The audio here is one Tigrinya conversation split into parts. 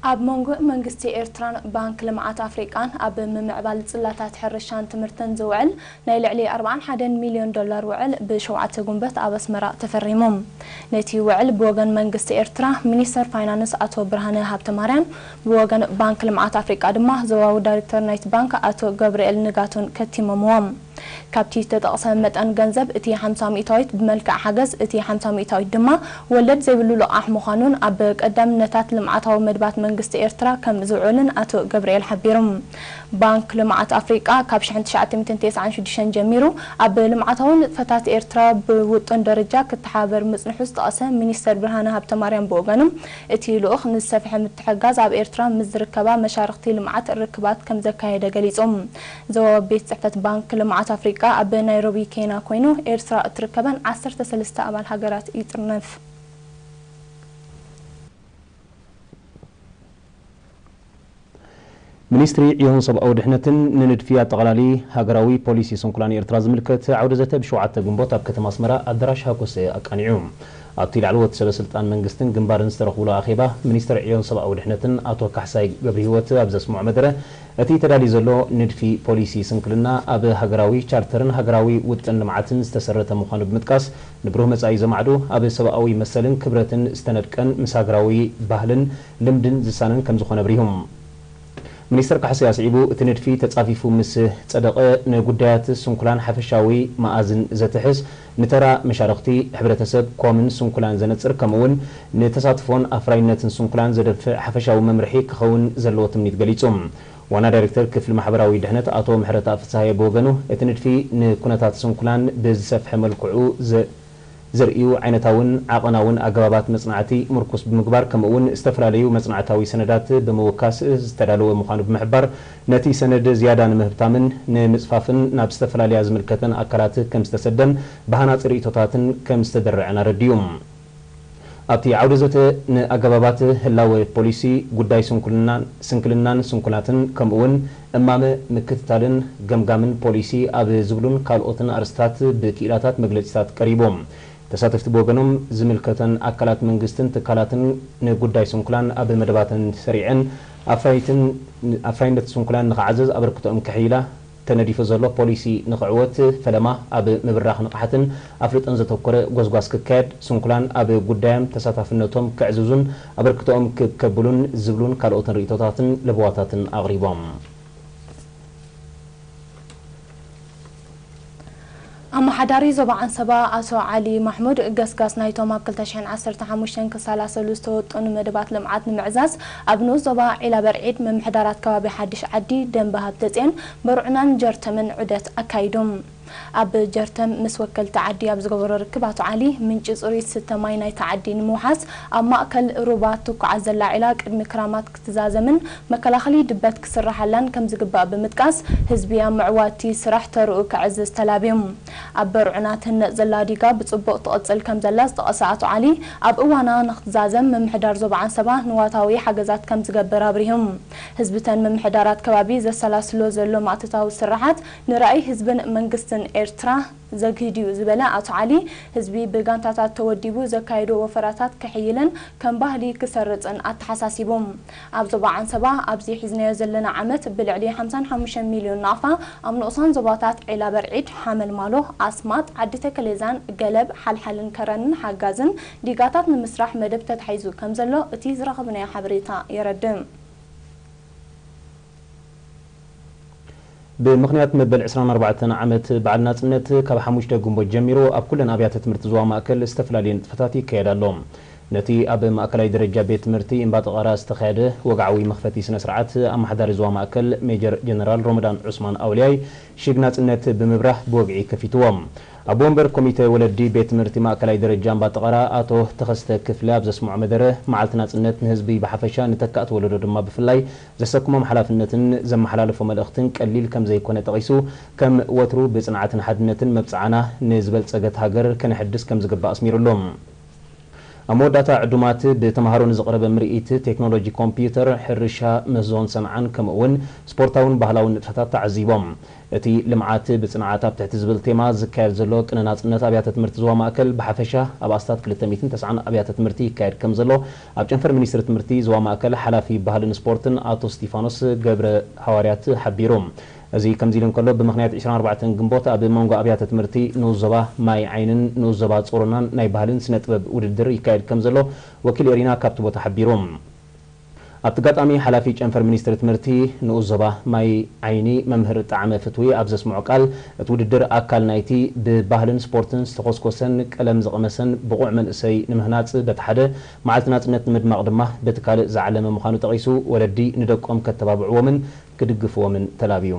ኣብ መንጎ መንግስቲ ኤርትራን ባንክ ልምዓት ኣፍሪቃን ኣብ ምምዕባል ጽላታት ሕርሻን ትምህርትን ዝውዕል ናይ ልዕሊ ኣርብዓን ሓደን ሚልዮን ዶላር ውዕል ብ ሸውዓተ ጉንበት ኣብ ኣስመራ ተፈሪሙ። ነቲ ውዕል ብወገን መንግስቲ ኤርትራ ሚኒስተር ፋይናንስ ኣቶ ብርሃነ ሃብተማርያን ብወገን ባንክ ልምዓት ኣፍሪቃ ድማ ዞባዊ ዳይሬክተር ናይቲ ባንክ ኣቶ ገብርኤል ንጋቱን ከቲሞምዎ። ካብቲ ዝተጠቕሰ መጠን ገንዘብ እቲ ሓምሳ ሚእታዊት ብመልክዕ ሓገዝ፣ እቲ ሓምሳ ሚእታዊት ድማ ወለድ ዘይብሉ ልቓሕ ምዃኑን ኣብ ቀዳምነታት ልምዓታዊ መድባት መንግስቲ ኤርትራ ከም ዝውዕልን ኣቶ ገብርኤል ሓቢሩ። ባንክ ልምዓት ኣፍሪቃ ካብ ሽሕን ትሽዓተ ሚእትን ተስዓን ሽዱሽተን ጀሚሩ ኣብ ልምዓታዊ ንጥፈታት ኤርትራ ብውጡን ደረጃ ክተሓባበር ምጽንሑ ዝጠቐሰ ሚኒስተር ብርሃነ ሃብተማርያም ብወገኑ እቲ ልኡኽ ንዝሰፍሐ ምትሕግጋዝ ኣብ ኤርትራ ምስ ዝርከባ መሻርኽቲ ልምዓት ርክባት ከም ዘካየደ ገሊጹ። ዞባዊ ቤት ጽሕፈት ባንክ ልምዓት ኣፍሪቃ ኣብ ናይሮቢ ኬና ኮይኑ ኤርትራ እትርከበን ዓሰርተ ሰለስተ ኣባል ሃገራት ይጥርንፍ። ሚኒስትሪ ዕዮን ሰብኣዊ ድሕነትን ንንድፊ ኣጠቓላሊ ሃገራዊ ፖሊሲ ስንኩላ ንኤርትራ ዝምልከት ዓውደ ዘተ ብ ሸውዓተ ግንቦት ኣብ ከተማ ኣስመራ ኣዳራሽ ሃኮሰ ኣቃኒዑ። ኣብቲ ላዕለዎት ሰበ ስልጣን መንግስትን ግንባርን ዝተረኽቡሉ ኣኼባ፣ ሚኒስትር ዕዮን ሰብኣዊ ድሕነትን ኣቶ ካሕሳይ ገብርሂወት ኣብ ዘስምዖ መደረ፣ እቲ ተዳልዩ ዘሎ ንድፊ ፖሊሲ ስንክልና ኣብ ሃገራዊ ቻርተርን ሃገራዊ ውጥን ልምዓትን ዝተሰረተ ምዃኑ ብምጥቃስ፣ ንብሩህ መጻኢ ዘማዕዱ፣ ኣብ ሰብኣዊ መሰልን ክብረትን ዝተነድቀን ምስ ሃገራዊ ባህልን ልምድን ዝሳነን ከምዝኾነ ኣብሪሁ። ሚኒስተር ካሕሳይ ኣስዒቡ፣ እቲ ንድፊ ተጻፊፉ ምስ ጸደቐ ንጉዳያት ስንኩላን ሓፈሻዊ መኣዝን ዘትሕዝ፣ ንተራ መሻርኽቲ ሕብረተሰብ፣ ኮምን ስንኩላን ዘነጽር ከምኡ'ውን ንተሳትፎን ኣፍራይነትን ስንኩላን ዘደንፍዕ ሓፈሻዊ መምርሒ ክኸውን ዘለዎ ትምኒት ገሊጹ። ዋና ዳይሬክተር ክፍሊ ማሕበራዊ ድሕነት ኣቶ ምሕረትኣብ ፍስሃየ ብወገኑ፣ እቲ ንድፊ ንኩነታት ስንኩላን ብዝሰፍሐ መልክዑ ዘርእዩ ዓይነታውን ዓቐናውን ኣገባባት መጽናዕቲ ምርኩስ ብምግባር ከምኡ'ውን ዝተፈላለዩ መጽናዕታዊ ሰነዳት ብምውካስ ዝተዳለወ ምዃኑ ብምሕባር፣ ነቲ ሰነድ ዝያዳ ንምህብታምን ንምጽፋፍን ናብ ዝተፈላለያ ዝምልከተን ኣካላት ከም ዝተሰደን ብሃናጺ ርእይቶታትን ከም ዝተደረዐን ኣረዲኡ። ኣብቲ ዓውደ ዘተ ንኣገባባት ህላወ ፖሊሲ፣ ጉዳይ ስንኩልናን ስንክልናን ስንኩላትን ከምኡ'ውን እማመ ምክትታልን ገምጋምን ፖሊሲ ኣብ ዝብሉን ካልኦትን ኣርእስትታት ብክኢላታት መግለጺታት ቀሪቡ። ተሳተፍቲ ብወገኖም ዝምልከተን ኣካላት መንግስትን ትካላትን ንጉዳይ ስንኩላን ኣብ መደባተን ሰሪዐን ኣፍራይትን ኣፍራይነት ስንኩላን ንኽዓዘዝ ኣበርክቶኦም ከሕይላ ተነዲፉ ዘሎ ፖሊሲ ንኽዕወት ፈለማ ኣብ ምብራኽ ንቕሓትን ኣፍልጦን ዘተኮረ ጎስጓስ ክካየድ፣ ስንኩላን ኣብ ጉዳዮም ተሳታፍነቶም ከዕዝዙን ኣበርክቶኦም ክብ ከብሉን ዝብሉን ካልኦትን ርእይቶታትን ለበዋታትን ኣቕሪቦም። ኣመሓዳሪ ዞባ ዓንሰባ ኣቶ ዓሊ ማሕሙድ፣ ገስጋስ ናይቶም ኣብ ክልተ ሽሕን ዓሰርተ ሓሙሽተን ክሰላሰሉ ዝተወጠኑ መደባት ልምዓት ንምዕዛዝ ኣብ ንኡስ ዞባ ዒላበርዒድ ምምሕዳራት ከባቢ ሓድሽ ዓዲ፣ ደንበ ሃብተጼን፣ በርዑናን ጀርተምን ዑደት ኣካይዱ። ኣብ ጀርተም ምስ ወከልቲ ዓዲ ኣብ ዝገበሮ ርክብ ኣቶ ዓሊ፣ ምንጪ ጽሩይ ዝስተ ማይ ናይታ ዓዲ ንምውሓስ ኣብ ማእከል ሩባ እትኳዓዝ ዘላ ዒላ ቅድሚ ክራማት ክዛዘምን መከላኸሊ ድበት ክስራሓላን ከምዝግባእ ብምጥቃስ፣ ህዝቢ ኣብ ምዕዋት'ቲ ስራሕ ተርኡ ከዕዝዝ ተላብዮም። ኣብ በርዑና ትህነጽ ዘላ ዲጋ ብጽቡቕ ትቕጽል ከምዘላ ዝጠቐሰ ኣቶ ዓሊ፣ ኣብ እዋና ንክትዛዘም ምምሕዳር ዞባ ዓንሰባ ንዋታዊ ሓገዛት ከምዝገብር ኣብሪሁም። ህዝቢ'ተን ምምሕዳራት ከባቢ ዘሰላስሎ ዘሎ ማእቶታዊ ስርሓት ንራኢ ህዝብን መንግስትን ኤርትራ ዘግህድ'ዩ ዝበለ ኣቶ ዓሊ፣ ህዝቢ ብጋንታታት ተወዲቡ ዘካይዶ ወፈራታት ክሕይልን ከም ባህሊ ክሰርጽን ኣተሓሳሲቡ። ኣብ ዞባ ዓንሰባ ኣብዚ ሒዝናዮ ዘለና ዓመት ብልዕሊ ሓምሳን ሓሙሽተን ሚልዮን ናቕፋ ኣብ ንኡሳን ዞባታት ዒላበርዒድ፣ ሓመልማሎ፣ ኣስማጥ፣ ዓዲተከሌዛን፣ ገለብ፣ ሓልሓልን ከረንን ሓጋዝን ዲጋታት ንምስራሕ መደብ ተታሒዙ ከምዘሎ እቲ ዝረኸብናዮ ሓበሬታ የረድእ። ብምኽንያት መበል ዕስራን ኣርባዕተን ዓመት በዓል ናጽነት፣ ካብ ሓሙሽተ ግንቦት ጀሚሩ ኣብ ኩለን ኣብያተ ትምህርቲ ዞባ ማእከል ዝተፈላለየ ንጥፈታት ይካየድ ኣሎ። ነቲ ኣብ ማእከላይ ደረጃ ቤት ትምህርቲ እምባጠቐራ ዝተኻየደ ወግዓዊ መኽፈቲ ስነ-ስርዓት፣ ኣመሓዳሪ ዞባ ማእከል ሜጀር ጀነራል ሮመዳን ዑስማን ኣውልያይ ሽግ ናጽነት ብምብራህ ብወግዒ ከፊትዎ። ኣቦ ወንበር ኮሚተ ወለዲ ቤት ትምህርቲ ማእከላይ ደረጃ እምባጠቐራ ኣቶ ተኸስተ ክፍለ ኣብ ዘስምዖ መደረ፣ መዓልቲ ናጽነት ንህዝቢ ብሓፈሻ ንተካእቲ ወለዶ ድማ ብፍላይ፣ ዘሰክሞም ሓላፍነትን ዘመሓላለፎ መልእኽትን ቀሊል ከም ዘይኮነ ጠቒሱ፣ ከም ወትሩ ብጽንዓትን ሓድነትን መብጽዓና ንዝበልጸገት ሃገር ከነሐድስ ከም ዝግባእ ኣስሚሩሉ። ኣብ መወዳእታ ዕዱማት ብተመሃሮ ንዝቐረበ ምርኢት ቴክኖሎጂ ኮምፕዩተር፣ ሕርሻ፣ ምህዞን ሰንዓን ከምኡ'ውን ስፖርታውን ባህላውን ንጥፈታት ተዓዚቦም። እቲ ልምዓት ብፅንዓት ኣብ ትሕቲ ዝብል ቴማ ዝካየድ ዘሎ ቅነ ናፅነት ኣብያተ ትምህርቲ ዞባ ማእከል ብሓፈሻ ኣብ ኣስታት ክልተ ሚእትን ተስዓን ኣብያተ ትምህርቲ ይካየድ ከምዘሎ ኣብ ጨንፈር ሚኒስትሪ ትምህርቲ ዞባ ማእከል ሓላፊ ባህልን ስፖርትን ኣቶ እስቲፋኖስ ገብረሃዋርያት ሓቢሩ። እዚ ከምዚ ኢሉ እንከሎ ብምኽንያት ዕስራን ኣርባዕተን ግንቦት ኣብ መንጎ ኣብያተ ትምህርቲ ንኡስ ዞባ ማይ ዓይንን ንኡስ ዞባ ፆሮናን ናይ ባህልን ስነ ጥበብ ውድድር ይካየድ ከምዘሎ ወኪል ኤሪና ካብቲ ቦታ ሓቢሩ። ኣብቲ ኣጋጣሚ ሓላፊ ጨንፈር ሚኒስትሪ ትምህርቲ ንኡስ ዞባ ማይ ዓይኒ መምህር ጣዕመ ፍትዊ ኣብ ዘስምዖ ቃል፣ እቲ ውድድር ኣካል ናይቲ ብባህልን ስፖርትን ዝተኾስኮሰን ቀለም ዝቐመሰን ብቑዕ መንእሰይ ንምህናፅ በቲ ሓደ፣ መዓልቲ ናፅነት ንምድማቕ ድማ በቲ ካልእ ዝዓለመ ምዃኑ ጠቒሱ፣ ወለዲ ንደቆም ከተባብዕዎምን ክድግፍዎምን ተላብዩ።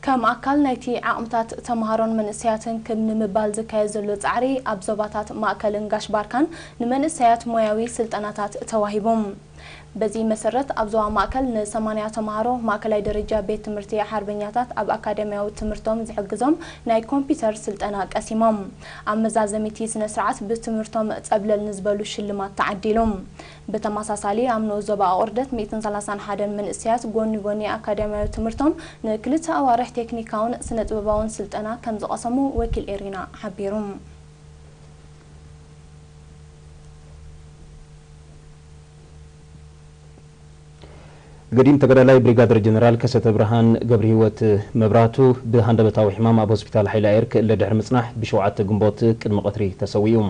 ከም ኣካል ናይቲ ዓቕምታት ተመሃሮን መንእሰያትን ክብ ንምባል ዝካየድ ዘሎ ጻዕሪ፣ ኣብ ዞባታት ማእከልን ጋሽ ባርካን ንመንእሰያት ሞያዊ ስልጠናታት ተዋሂቦም። በዚ መሰረት፣ ኣብ ዞባ ማእከል ን ሰማንያ ተመሃሮ ማእከላይ ደረጃ ቤት ትምህርቲ ሓርበኛታት ኣብ ኣካዳሚያዊ ትምህርቶም ዝሕግዞም ናይ ኮምፒተር ስልጠና ቀሲሞም። ኣብ መዛዘሚ'ቲ ስነ-ስርዓት፣ ብትምህርቶም ጸብለል ንዝበሉ ሽልማት ተዓዲሎም። ብተመሳሳሊ ኣብ ንኡስ ዞባ ኣቑርደት ሚእትን ሰላሳን ሓደን መንእሰያት ጎኒ ጎኒ ኣካድያምያዊ ትምህርቶም ንክልተ ኣዋርሕ ቴክኒካውን ስነጥበባውን ስልጠና ከምዝቐሰሙ ወኪል ኤሪና ሓቢሩ። ገዲም ተጋዳላይ ብሪጋደር ጀነራል ከሰተብርሃን ገብርሂወት መብራህቱ ብሃንደበታዊ ሕማም ኣብ ሆስፒታል ሓይሊ ኣየር ክእለ ድሕሪ ምጽናሕ ብ ሸውዓተ ግንቦት ቅድሚ ቀትሪ ተሰዊኡ።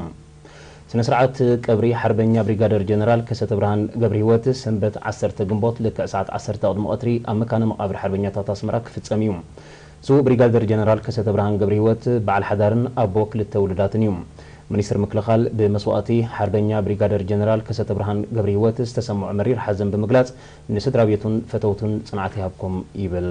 ስነ-ስርዓት ቀብሪ ሓርበኛ ብሪጋደር ጀነራል ከሰተብርሃን ገብርሂወት ሰንበት ዓሰርተ ግንቦት ልክዕ ሰዓት ዓሰርተ ቅድሚ ቐትሪ ኣብ መካነ መቓብር ሓርበኛታት ኣስመራ ክፍጸም እዩ። ስዉእ ብሪጋደር ጀነራል ከሰተብርሃን ገብርሂወት በዓል ሓዳርን ኣቦ ክልተ ውሉዳትን እዩ። ሚኒስትሪ ምክልኻል ብመስዋእቲ ሓርበኛ ብሪጋደር ጀነራል ከሰተብርሃን ገብርሂወት ዝተሰምዖ መሪር ሓዘን ብምግላጽ ንስድራቤቱን ፈተውቱን ጽንዓት ይሃብኩም ይብል።